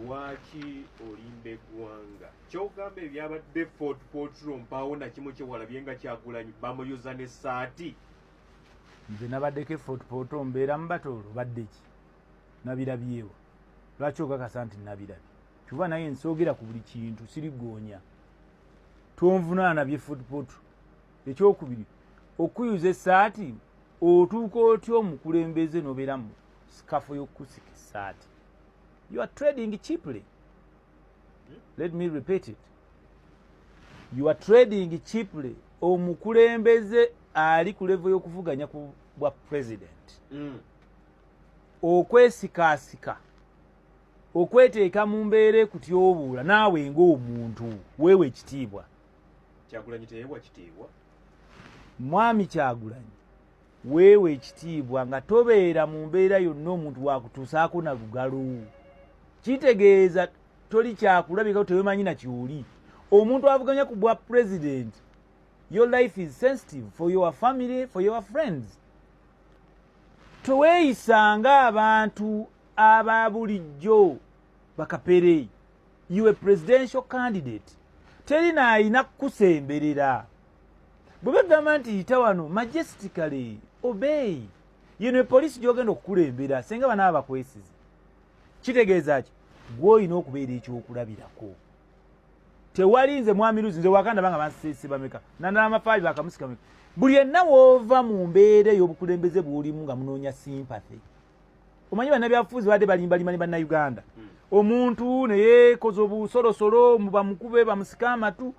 lwaki olimba eggwanga kyogamba ebyabadde fort potro mpaawo nakimu kyewalabye nga kyagulanyi bamuyuza ne saati nze nabaddeko efort potro mbeera mubatoolo baddeki nabirabyewo lwaki okakasa nti nabirabye kuba naye nsoogera ku buli kintu sirigoonya tonvunaana bye fort potro ekyokubiri okuyuza esaati otuuka otya omukulembeze nobeera mu sikafu yokusika esaati you are trading cheaply let me repeat it you are trading cheaply omukulembeze ali ku levo y'okuvuganya ku bwa president mm. okwesikaasika okweteeka mu mbeera ekutyobuula naawe ng'omuntu weewa ekitiibwa kyagulanyi teyebwa kitiibwa mwami kyagulanyi weewa ekitiibwa nga tobeera mu mbeera yonna omuntu wakutuusaako na lugalo kitegeeza toli kyakulabikao tewemanyi na kyoli omuntu avuganya ku bwa president your life is sensitive for your family for your friends teweeyisa nga abantu aba bulijjo bakapere you a presidential candidate teri naayina kukusemberera bwe bagamba nti yita wano majestically obey yeno epoliisi gyogenda okukulembera senga banaaba bakwesize kitegeeza ki gweolina okubeera ekyokulabirako tewali nze mwami luzi nze wakandaba nga bansese bameka nandala amafaali bakamusika meka buli enna woova mu mbeera ey'obukulembeze bwolimu nga munoonya simpathy omanyi bannabyafuuzi badde balimbalima ne bannayuganda hmm. omuntu neyekoza obusolosolo mubamukube bamusika amatu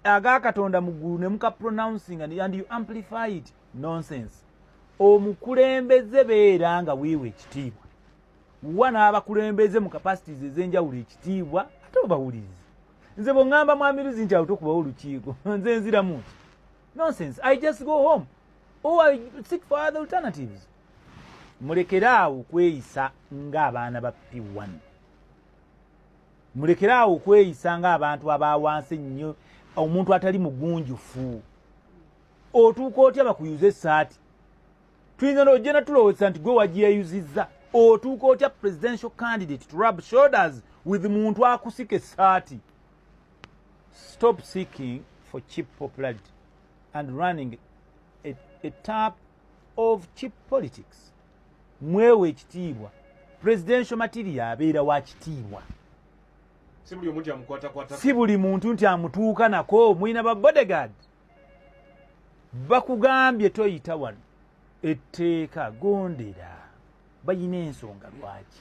aga katonda mu ggulu ne muka pronouncing and, and you amplify it nonsense omukulembeze beera nga weewa ekitiibwa wa n'abakulembeze mu capacities ez'enjawulo ekitiibwa ate obawuliriza nze bweŋŋamba mwamiruzi nti awuta okubawo olukiiko nze nziramu nti nonsense i just go home or i seek for other alternatives mulekere awo kweyisa ng'abaana ba p1 mulekere awo okweyisa ng'abantu abawansi ennyo omuntu atali mugunjufu otuuka otya bakuyuza esaati tuyinza nojja natulowozesa nti gwe wagiyeyuzizza otuuka otya presidential candidate to rub shoulders with muntu akusika esaati stop seeking for cheap popularity and running a, a tap of cheap politics mwewe ekitiibwa presidential material abeera wa kitiibwa si buli muntu nti amutuuka nako mulina ba bodegard bakugambye toyita wano etteeka gondera balina ensonga lwaki